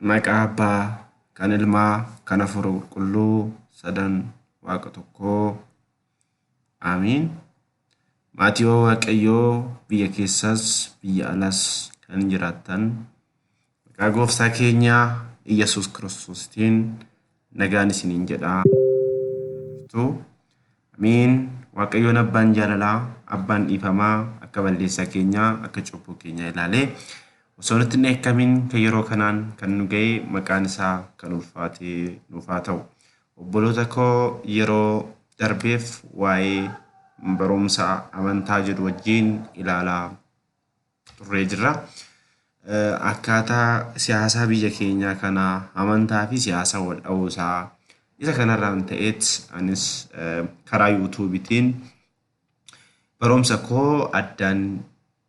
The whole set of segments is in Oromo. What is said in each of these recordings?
Maqaa Abbaa, kan Ilmaa, kan Hafuura Qulqulluu, sadan Waaqa tokkoo. Aamiin. Maatiiwwan Waaqayyoo biyya keessas biyya alas kan jiraattan maqaa gooftaa keenya Iyyasuus Kiristoositiin nagaan isiniin jedha. Jirtu. Ameen waaqayyoon abbaan jaalalaa abbaan dhiifamaa akka balleessaa keenyaa akka cubbuu keenyaa ilaalee osoo nutti hin dheekkamiin kan yeroo kanaan kan nu ga'e maqaan isaa kan ulfaatee nuuf haa ta'u. Obboloota koo yeroo darbeef waa'ee barumsa amantaa jedhu wajjin ilaalaa turree jirra. Akkaataa siyaasaa biyya keenyaa kana amantaa fi siyaasaa wal dha'uu isaa isa kanarraan ta'eet anis karaa yuutuubitiin barumsa koo addaan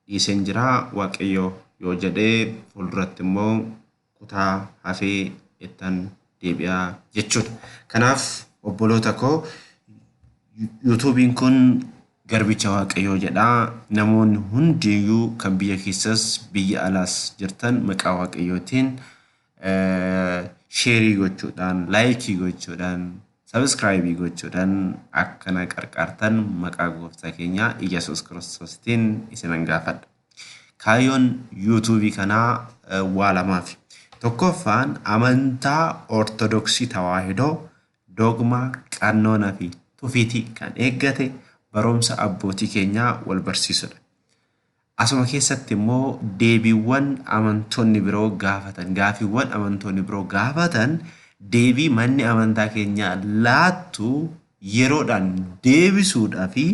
dhiiseen jira waaqayyo yoo jedhee fuulduratti immoo kutaa hafee ittan deebi'a jechuudha. Kanaaf obboloota koo yuutuubiin kun garbicha waaqayyoo jedha namoonni hundiyyuu kan biyya keessas biyya alaas jirtan maqaa waaqayyootiin sheerii gochuudhaan laayikii gochuudhaan sabiskiraayibii gochuudhaan akkana qarqaartan maqaa gooftaa keenyaa Iyyasuus Kiristoostiin isinan gaafadha. Kaayyoon YouTube kanaa waa lamaafi. Tokkoffaan amantaa Ortodoksii Tawaahidoo dogmaa, qannoona fi tufiiti kan eeggate barumsa abbootii keenyaa wal barsiisudha. Asuma keessatti immoo deebiiwwan amantoonni biroo gaafatan, gaafiiwwan amantoonni biroo gaafatan deebii manni amantaa keenyaa laattu yeroodhaan deebisuudhaa fi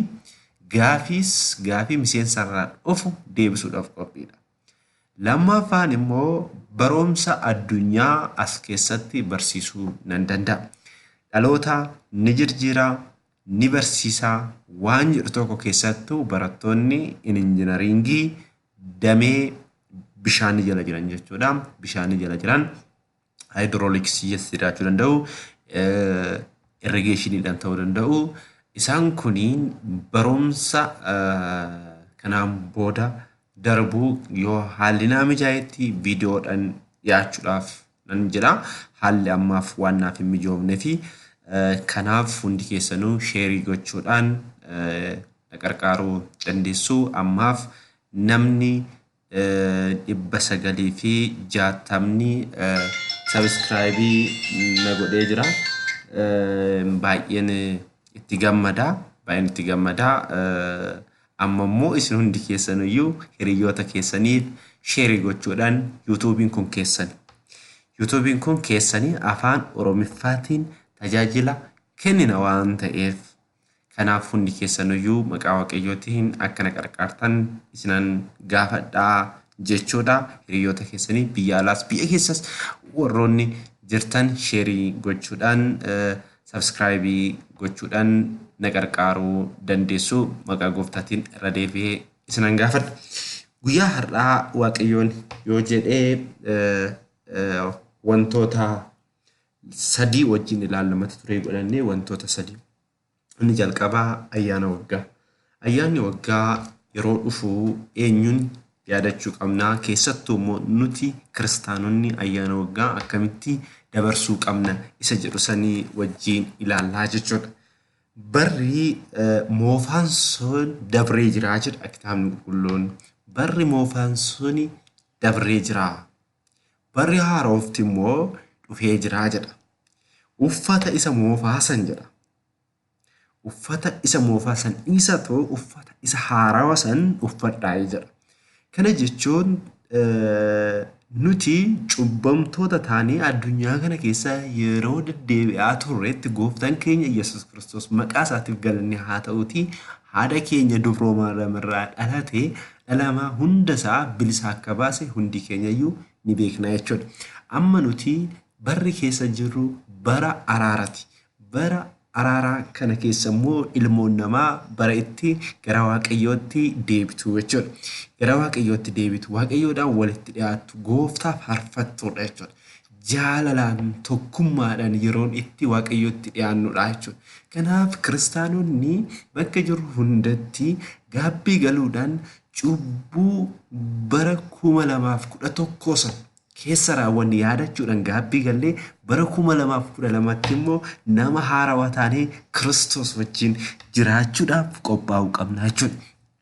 gaafiis gaafii miseensarraa dhufu deebisuudhaaf qophiidha. Lammaffaan immoo baroomsa addunyaa as keessatti barsiisuu nan danda'a. Dhaloota ni jirjiira, ni barsiisa waan jedhu tokko keessattuu barattoonni injinariingii damee bishaanii jala jiran jechuudha. Bishaanii jala jiran haayidirooliksii keessa jiraachuu danda'u, irrigeeshiniidhaan ta'uu danda'u. Isaan kun barumsa kanaan booda darbuu yoo haalli naa mijaa'etti viidiyoodhaan dhiyaachuudhaaf nan jedha. Haalli ammaaf waan naaf hin mijoofne fi kanaaf hundi keessanuu sheerii gochuudhaan na qarqaaruu dandeessu. Ammaaf namni dhibba sagalii fi jaatamni subscribe na godhee jira. Baay'een itti gammada. Baay'een itti gammada. Amma immoo isin hundi keessan iyyuu hiriyoota keessaniif sheerii gochuudhaan yuutuubiin kun keessan. Yuutuubiin kun keessanii afaan Oromiffaatiin tajaajila kennina waan ta'eef. Kanaaf hundi keessanuyyuu maqaa Waaqayyootiin akka na qarqaartan isinan gaafadha jechuudha. Hiriyoota keessanii biyya alaas biyya keessas warroonni jirtan sheerii gochuudhaan sabskraayibii gochuudhaan na qarqaaruu dandeessu maqaa gooftaatiin irra deebi'ee isinan gaafadha. Guyyaa har'aa Waaqayyoon yoo jedhee wantoota sadii wajjin ilaalla mata duree godhannee wantoota sadii. Inni jalqabaa ayyaana waggaa. Ayyaanni waggaa yeroo dhufu eenyuun yaadachuu qabnaa keessattuu immoo nuti kiristaanonni ayyaana waggaa akkamitti dabarsuu qabna isa jedhu sanii wajjiin ilaallaa jechuudha. Barri moofaan sun dabree jiraa jedha kitaabni qulqulluun. Barri moofaan suni dabree jiraa. Barri haarofti immoo dhufee jira jedha. Uffata isa moofaa san jedha. Uffata isa moofaa san dhiisatu uffata isa haarawa san uffadhaa jedha. Kana jechuun nuti cubbamtoota taanee addunyaa kana keessa yeroo deddeebi'aa turretti gooftaan keenya Yesuus Kiristoos maqaa isaatiif galanni haa ta'uutii haadha keenya dubroo maariyaamirraa dhalatee dhala namaa hunda isaa bilisa akka baase hundi keenya iyyuu ni beekna jechuudha. Amma nuti barri keessa jirru bara araarati. Bara araaraa kana keessa immoo ilmoon namaa bara itti gara waaqayyootti deebitu jechuudha. Gara waaqayyootti deebitu, waaqayyoodhaan walitti dhiyaattu, gooftaa faarfattuudha jechuudha. jaalalaan tokkummaadhaan yeroon itti Waaqayyootti dhiyaannudha jechuudha. Kanaaf kiristaanonni bakka jirru hundatti gaabbii galuudhaan cubbuu bara 2011 san keessa raawwanne yaadachuudhaan gaabbii gallee bara 2012tti immoo nama haarawa taanee Kiristoos wajjin jiraachuudhaaf qophaa'uu qabna jechuudha.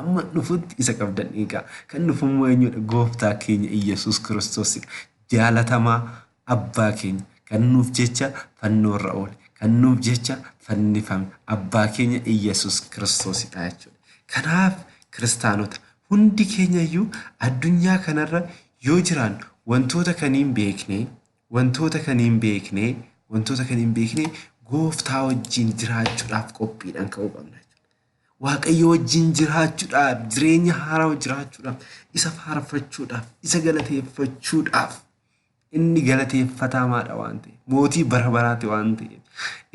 Amma dhufutti isa qabdan eegaa. Kan dhufu immoo eenyudha? Gooftaa keenya Iyyasuus Kiristoosidha. Jaalatamaa Abbaa keenya kan nuuf jecha fannoorra oole, kan nuuf jecha fannifame Abbaa keenya Iyyasuus Kiristoosidha jechuudha. Kanaaf Kiristaanota hundi keenyayyuu addunyaa kanarra yoo jiraannu wantoota kan hin beekne, wantoota kan hin beekne, wantoota kan hin beekne gooftaa wajjin jiraachuudhaaf qophiidhaan ka'uu qabna jechuudha. Waaqayyo wajjin jiraachuudhaaf, jireenya haarawa jiraachuudhaaf, isa faarfachuudhaaf, isa galateeffachuudhaaf inni galateeffatamaadha waan ta'eef, mootii bara baraati waan ta'eef,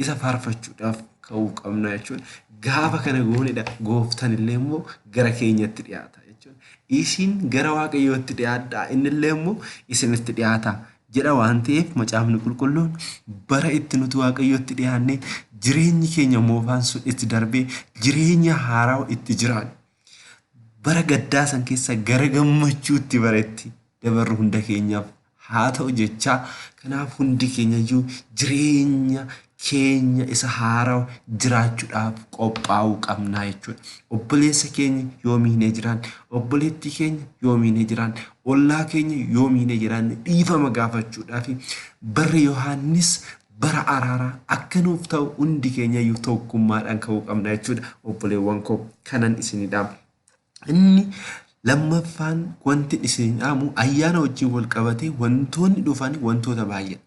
isa faarfachuudhaaf ka'uu qabna jechuudha. Gaafa kana goonedha gooftan illee immoo gara keenyatti dhiyaata jechuudha. Isin gara Waaqayyootti dhiyaadhaa, inni illee immoo isinitti dhiyaata. jedha waan ta'eef macaafni qulqulluun bara itti nuti waaqayyootti dhiyaannee jireenyi keenya moofaan sun itti darbee jireenya haarawa itti jiraanne bara gaddaa san keessa gara gammachuutti bara itti dabarru hunda keenyaaf haa ta'u jechaa kanaaf hundi keenyayyuu jireenya keenya isa haarawa jiraachuudhaaf qophaa'uu qabnaa jechuudha. Obboleessa keenya yoo miinee jiraan, obboleettii keenya yoo miinee jiraan, ollaa keenya yoo miinee jiraan dhiifama gaafachuudhaaf barri Yohaannis bara araaraa akka nuuf ta'u hundi keenya iyyuu tokkummaadhaan ka'uu qabna jechuudha. Obboleewwan koo kanan isinidhaam. Inni lammaffaan wanti isin dhaamu ayyaana wajjin wal qabatee wantoonni dhufan wantoota baay'eedha.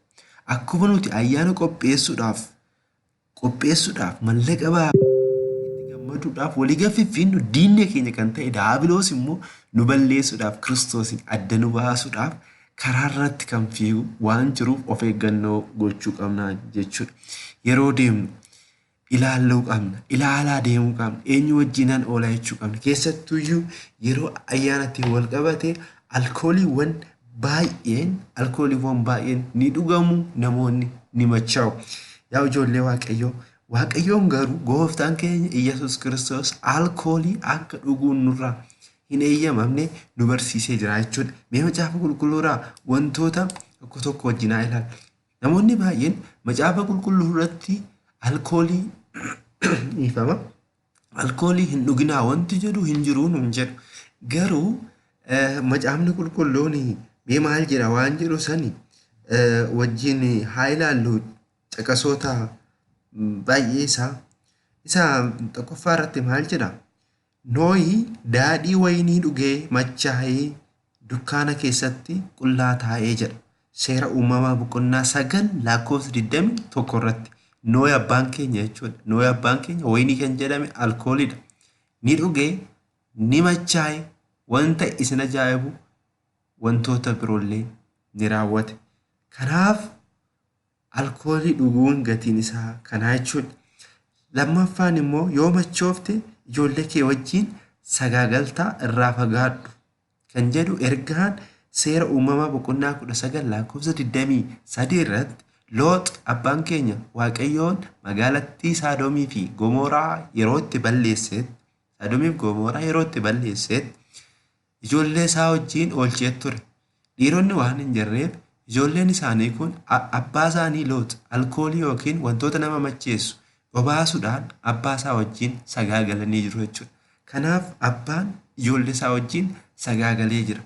Akkuma nuti ayyaana qopheessuudhaaf qopheessuudhaaf mallaqa baafnu itti gammaduudhaaf walii gaffiffiinnu diinni keenya kan ta'e daabiloos immoo nu balleessuudhaaf kiristoosiin adda nu baasuudhaaf karaa irratti kan fiigu waan jiruuf of eeggannoo gochuu qabna jechuudha. Yeroo deemnu ilaalluu qabna. Ilaalaa deemuu qabna. Eenyu wajjinan oola jechuu qabna. Keessattuyyuu yeroo ayyaanatti wal qabate alkooliiwwan baay'een alkooliiwwan baay'een ni dhugamu namoonni ni machaa'u. Yaa ijoollee Waaqayyoo Waaqayyoon garuu gooftaan keenya Iyyasuus Kiristoos alkoolii akka dhuguun nurraa hin eeyyamamne nu barsiisee jira jechuudha. Mee macaafa qulqulluuraa wantoota tokko tokko wajjinaa ilaalla. Namoonni baay'een Macaafa Qulqulluu irratti alkoolii dhiifama alkoolii hin dhuginaa wanti jedhu hin jiru nuun jedhu. Garuu Macaafni Qulqulluun mee maal jedha waan jedhu sani wajjin haa ilaallu caqasoota baay'ee isaa. Isa tokkoffaa irratti maal jedha? Nohi daadhii wayinii dhugee machaa'ee dukkaana keessatti qullaa taa'ee jedha. Seera uumamaa boqonnaa 9 lakkoofsa 21 irratti Nohi abbaan keenya jechuudha. Nohi abbaan keenya wayinii kan jedhame alkooliidha. Ni dhuge, ni machaa'e, wanta isin ajaa'ibu wantoota biroollee ni raawwate. Kanaaf alkoolii dhuguun gatiin isaa kanaa jechuudha. Lammaffaan immoo yoo machoofte ijoollee kee wajjin sagaagaltaa irraa fagaadhu kan jedhu ergaan seera uumamaa boqonnaa 19 lakkoofsa 23 irratti loox abbaan keenya waaqayyoon magaalattii saadomii fi gomoraa yeroo itti balleesseetti saadomiif gomoraa yeroo itti balleesseetti ijoollee isaa wajjiin oolchee ture. Dhiironni waan hin jirreef ijoolleen isaanii kun abbaa isaanii Loox alkoolii yookiin wantoota nama macheessu obaasuudhaan abbaa isaa wajjiin sagaagalanii jiru jechuudha. Kanaaf abbaan ijoollee isaa wajjiin sagaagalee jira.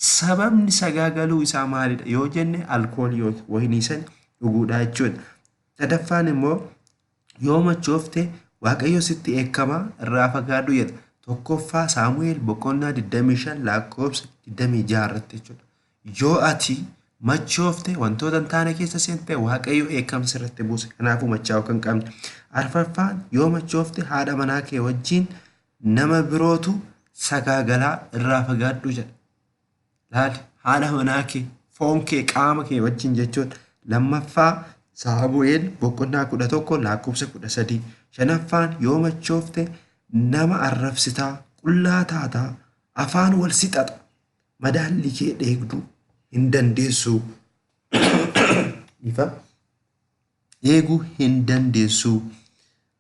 Sababni sagaagaluu isaa maalidha yoo jenne alkoolii yookiin wayinii san dhuguudhaa jechuudha. Sadaffaan immoo Yoo machoofte Waaqayyo sitti dheekkama irraa fagaadhu jedha. Tokkoffaa Saamu'eel boqonnaa 25 lakkoofsa 26 irratti jechuudha. Yoo ati machoofte wantoota hin taane keessa seente Waaqayyo dheekkamsa irratti buuse. Kanaafuu machaa'uu kan qabne. Arfaffaan yoo machoofte haadha manaa kee wajjin nama birootu sagaagalaa irraa fagaadhu jedha. laal haadha manaa kee foon kee qaama kee wajjin jechuun lammaffaa saamu'eel boqonnaa kudha tokko lakkoofsa kudha sadii shanaffaan yoo machoofte nama arrabsitaa qullaa taataa afaan wal sixaxa madaalli kee dheegduu hin dandeessuu ifa eeguu hin dandeessuu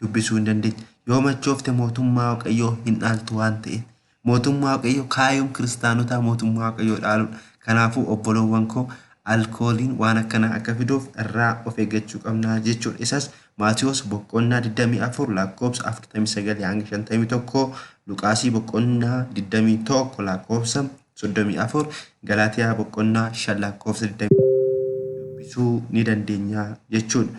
dubbisuu hin dandeenye. Yoo machoofte mootummaa Waaqayyoo hin dhaaltu waan ta'eef. Mootummaa Waaqayyoo kaayoon kiristaanotaa mootummaa Waaqayyoo dhaaluudha. Kanaafuu obboloowwan koo alkooliin waan akkanaa akka fiduuf irraa of eeggachuu qabna jechuudha. Isas Maatiyoos boqqonnaa 24 lakkoofsa 49 hanga 51, Luqaasii boqqonnaa 21 lakkoofsa 34, Galaatiyaa boqqonnaa 5 lakkoofsa 20 dubbisuu ni dandeenya jechuudha.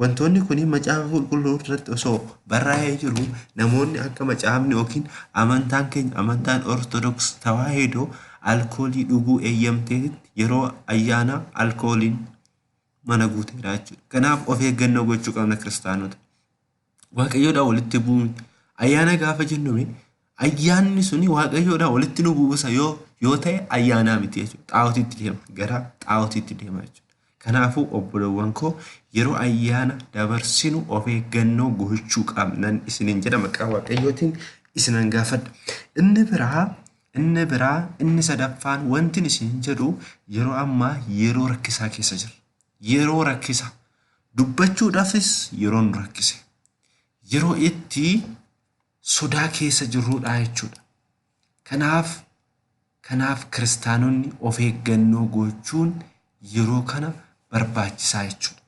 Wantoonni kun macaafa qulqulluu irratti osoo barraa'ee jiru namoonni akka macaafni yookiin amantaan keenya amantaan ortodoks tawaahidoo alkoolii dhuguu eeyyamteetitti yeroo ayyaanaa alkooliin mana guuteera jechuudha. Kanaaf of eeggannoo gochuu qabna kiristaanota. Waaqayyoodhaan walitti bu'uu miti. Ayyaana gaafa jennu Ayyaanni suni waaqayyoodhaa walitti nu buusa yoo yoo ta'e ayyaanaa miti jechuudha. Xaa'otiitti deema. Gara xaa'otiitti deema jechuudha. Kanaafuu obbolowwan koo yeroo ayyaana dabarsinu of eeggannoo gochuu qabnan isinin jedha maqaa waaqayyootiin isinan gaafadha. Inni biraa inni biraa inni sadaffaan wantin isin jedhu yeroo ammaa yeroo rakkisaa keessa jirra. Yeroo rakkisa dubbachuudhaafis yeroo nu rakkise. Yeroo itti sodaa keessa jirruudha jechuudha. Kanaaf kanaaf kiristaanonni of eeggannoo gochuun yeroo kana barbaachisaa jechuudha.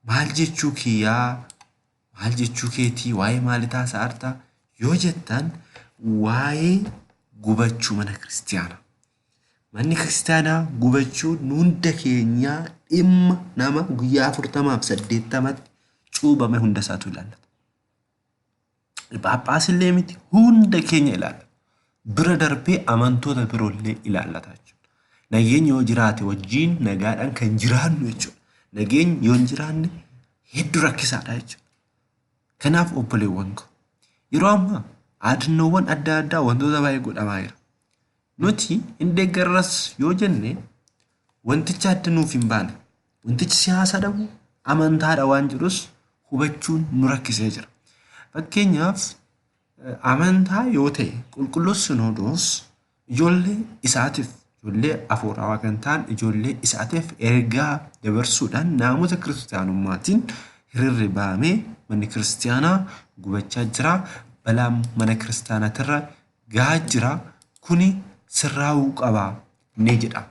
Maal jechuu kiyyaa maal jechuu keetii waa'ee maalii taasa'arta yoo jettan waa'ee gubachuu mana kiristaanaa. Manni kiristaanaa gubachuu hunda keenyaa dhimma nama guyyaa afurtamaaf saddeettamatti cuubame hunda isaatu ilaallata. Phaaphaasillee miti hunda keenya ilaalla. Bira darbee amantoota biroollee ilaallata jechuudha. Nageenyi yoo jiraate wajjin nagaadhaan kan jiraannu jechuudha. Nageenyi yoo hin jiraanne hedduu rakkisaadha jechuudha. Kanaaf obboleewwan koo yeroo ammaa yaadannoowwan adda addaa wantoota baay'ee godhamaa jira. Nuti hin deeggarras yoo jenne wantichi adda nuuf hin baane. Wantichi siyaasa dhabu amantaadha waan jedhus hubachuun nu rakkisee jira. Fakkeenyaaf amantaa yoo ta'e qulqulluus sinoodoos ijoollee isaatiif ijoollee afuuraawaa kan ta'an ijoollee isaatiif ergaa dabarsuudhaan naamusa kiristiyaanummaatiin hiriirri bahamee manni kiristiyaanaa gubachaa jira balaa mana kiristiyaanaatirra gahaa jira kuni sirraa'uu qaba ni jedha.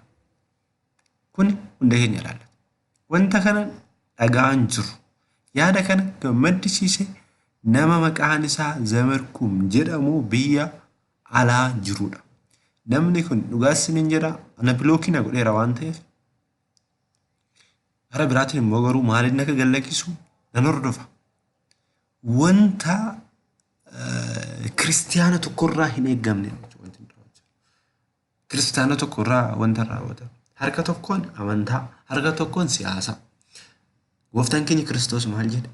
Kuni hunda keenya ilaallata. Wanta kana dhaga'aan jiru. Yaada kana kan maddisiise nama maqaan isaa Zamarkum jedhamu biyya alaa jirudha. Namni kun dhugaas isiniin jedha ana bilookii na godheera waan ta'eef gara biraatiin immoo garuu maaliin akka gallakkisu nan hordofa. Wanta kiristiyaana tokkorraa hin eeggamne kiristaana tokko irraa wanta raawwatan harka tokkoon amantaa harka tokkoon siyaasa gooftaan keenya kiristoos maal jedhe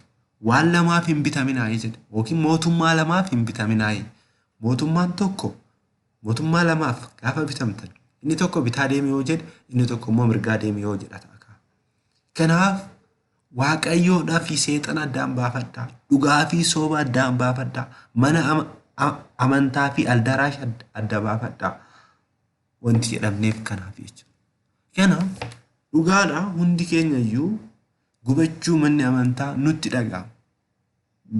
waan lamaaf hin bitaminaa'ee jedhe yookiin mootummaa lamaaf hin bitaminaa'ee mootummaan tokko mootummaa lamaaf gaafa bitamtan inni tokko bitaa deemee yoo jedhe inni tokko immoo mirgaa deemee yoo jedha ta'a kanaaf Waaqayyoodhaa fi seexana addaan baafadhaa. Dhugaa fi sooba addaan baafadhaa. Mana ama- a- amantaa fi aldaraash adda- adda baafadhaa. Wanti jedhamneef kanaaf jechuudha. Kanaaf dhugaadha hundi keenya iyyuu gubachuu manni amantaa nutti dhaga'ama.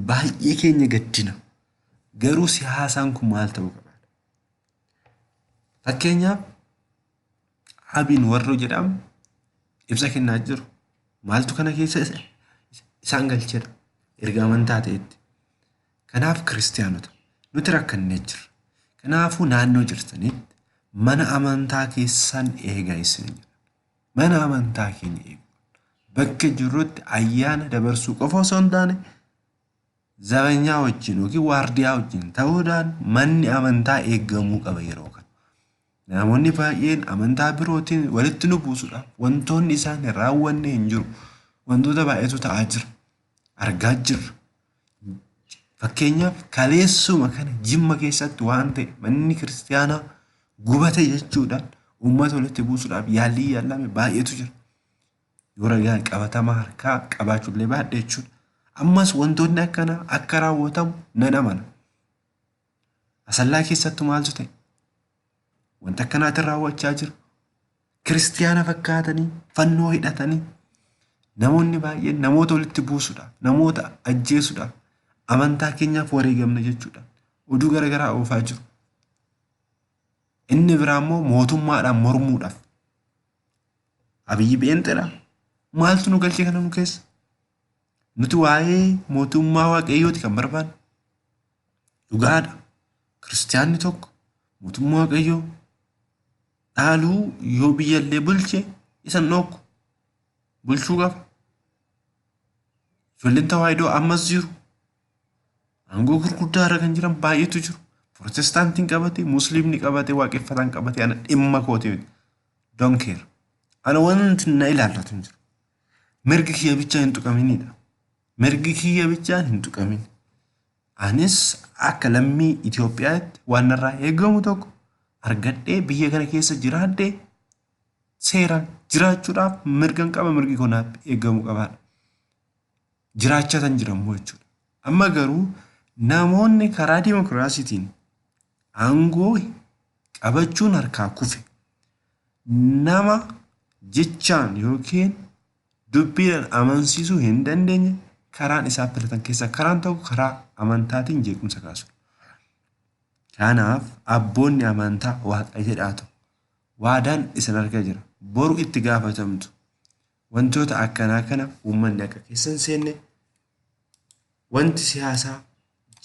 Baay'ee keenya gaddina. Garuu siyaasaan kun maal ta'uu qaba? Fakkeenyaaf Abin Warroo jedhamu ibsa kennaa jiru. Maaltu kana keessa isaan galcheera erga amantaa ta'etti. Kanaaf kiristaanota nuti rakkannee jirra. Kanaafuu naannoo jirtanitti mana amantaa keessan eegaa isin jedha. Mana amantaa keenya eegu. Bakka jirrutti ayyaana dabarsuu qofa osoo hin taane zabanyaa wajjin yookiin waardiyaa wajjin ta'uudhaan manni amantaa eegamuu qaba yeroo kana. Namoonni baay'een amantaa birootiin walitti nu buusuudhaaf wantoonni isaan hin raawwanne hin jiru. Wantoota baay'eetu ta'aa jira. Argaa jirra. Fakkeenyaaf kaleessuma kana jimma keessatti waan ta'e manni kiristaanaa gubate jechuudhaan uummata walitti buusuudhaaf yaallii yaallame baay'eetu jira. Yoo ragaa qabatamaa harkaa qabaachuullee baadhe jechuudha. Ammas wantoonni akkanaa akka raawwatamu nan amana. Asallaa keessattu maaltu ta'e? Wanta akkanaatiin raawwachaa jiru. Kiristiyaana fakkaatanii fannoo hidhatanii namoonni baay'een namoota walitti buusudha. Namoota ajjeesudha. Amantaa keenyaaf wareegamna jechuudha. Oduu garaagaraa oofaa jiru. Inni biraa immoo mootummaadhaan mormuudhaaf. Abiyyi beenxeedha. Maaltu nu galche kana nu keessa? Nuti waa'ee mootummaa waaqayyooti kan barbaannu. Dhugaadha. Kiristiyaanni tokko mootummaa waaqayyoo dhaaluu yoo biyya illee bulche isan dhookku. Bulchuu qaba. Ijoolleen tawaahidoo ammas jiru. Aangoo gurguddaa irra kan jiran baay'eetu jiru. Protestaantiin qabate, musliimni qabate, waaqeffataan qabate ana dhimma kooti miti. Don't care. Ana wanti na ilaallatu hin jiru. mirgi kiyya bichaa hin tuqaminidha. Mirgi kiyya bichaa hin tuqamin. Anis akka lammii Itoophiyaatti waan narraa eegamu tokko argadhee biyya kana keessa jiraadhee seeraan jiraachuudhaaf mirgan qaba mirgi koo naaf eegamu qabaadha. Jiraachaa kan jirammoo jechuudha. Amma garuu namoonni karaa dimokiraasiitiin aangoo qabachuun harkaa kufe nama jechaan yookiin dubbiidhaan amansiisuu hin dandeenye karaan isaa filatan keessaa karaan tokko karaa amantaatiin jeequmsa kaasu. Kanaaf abboonni amantaa waaqa jedhaatu waadaan isin arga jira boru itti gaafatamtu Wantoota akkanaa kana uummanni akka keessa hin seenne wanti siyaasaa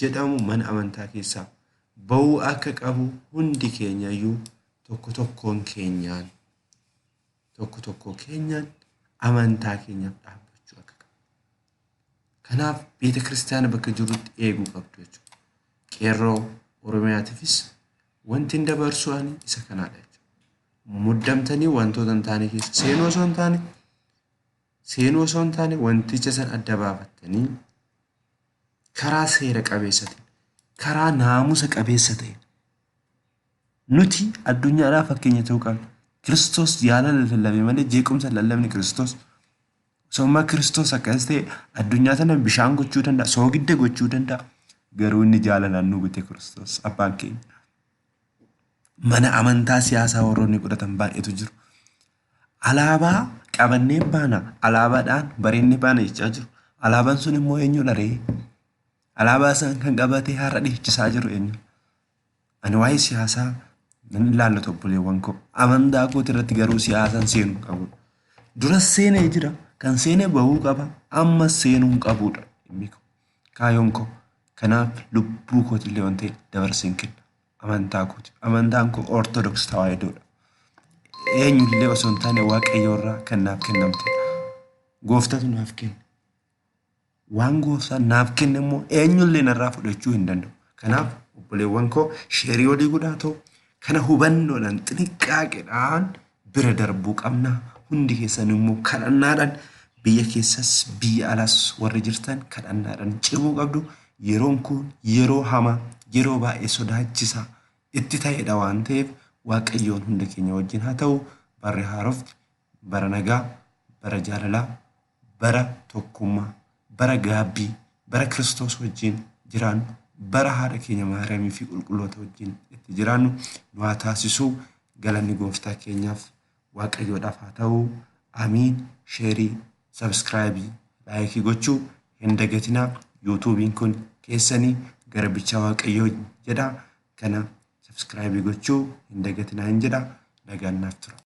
jedhamu mana amantaa keessaa ba'uu akka qabu hundi keenyayyuu tokko tokkoon keenyaan tokko tokkoo keenyaan amantaa keenyaaf dhaabbachuu akka qabu. Kanaaf beeta kiristaana bakka jirrutti eeguu qabdu jechuudha. Qeerroo Oromiyaatiifis Wantin dabarsu ani isa kanaadha jechuudha. Muddamtanii wantoota hin taane keessa seenuu osoo hin taane seenuu osoo hin taane wanticha san adda baafattanii karaa seera qabeessa ta'e karaa naamusa qabeessa ta'e nuti addunyaadhaa fakkeenya ta'uu qabna. Kiristoos jaalala lallabe malee jeequmsa lallabni Kiristoos Sababuma Kiristoos akkas ta'e addunyaa tana bishaan gochuu danda'a, soogidda gochuu danda'a. Garuu inni jaalalaan nu bite Kiristoos abbaan keenya. Mana amantaa siyaasaa warroonni godhatan baay'eetu jiru. Alaabaa qabannee baana, alaabaadhaan bareennee baana jechaa jiru. Alaabaan sun immoo eenyudha ree? Alaabaa isaan kan qabatee har'a dhiichisaa jiru eenyu? Ani waa'ee siyaasaa nan ilaallatu obboleewwan koo. Amantaa kooti irratti garuu siyaasaan seenuu hin qabu. Duras seenee jira. Kan seenee bahuu qaba. Ammas seenuu hin qabuudha. Dhimmi koo. Kaayoon koo. Kanaaf lubbuu kooti illee waan ta'e dabarsee hin kenna. Amantaa kooti. Amantaan koo Ortodoks Tawaahidoodha. Eenyullee osoo hin taane Waaqayyoorraa kan naaf kennamte. Gooftatu naaf kenne. Waan gooftaan naaf kenne immoo eenyullee narraa fudhachuu hin danda'u. Kanaaf obboleewwan koo sheerii olii godhaa ta'u kana hubannoodhaan xiniqqaaqedhaan bira darbuu qabna. Hundi keessan immoo kadhannaadhaan biyya keessas biyya alas warri jirtan kadhannaadhaan cimuu qabdu. Yeroon kun yeroo hamaa yeroo baay'ee sodaachisaa itti ta'edha waan ta'eef waaqayyoon hunda keenya wajjin haa ta'u barri haarofti bara nagaa bara jaalalaa bara tokkummaa, bara gaabbii, bara Kiristoos wajjin jiraannu, bara haadha keenya Maariyaamii fi qulqulloota wajjin itti jiraannu nu haa taasisuu. Galanni gooftaa keenyaaf waaqayyoodhaaf haa ta'u. Amiin. Sheerii, sabskraayibii, laayikii gochuu hin dagatinaa. Yuutuubiin kun keessanii garbichaa waaqayyoo jedha. Kana sabskraayibii gochuu hin dagatinaa hin jedha. Nagaan naaf tura.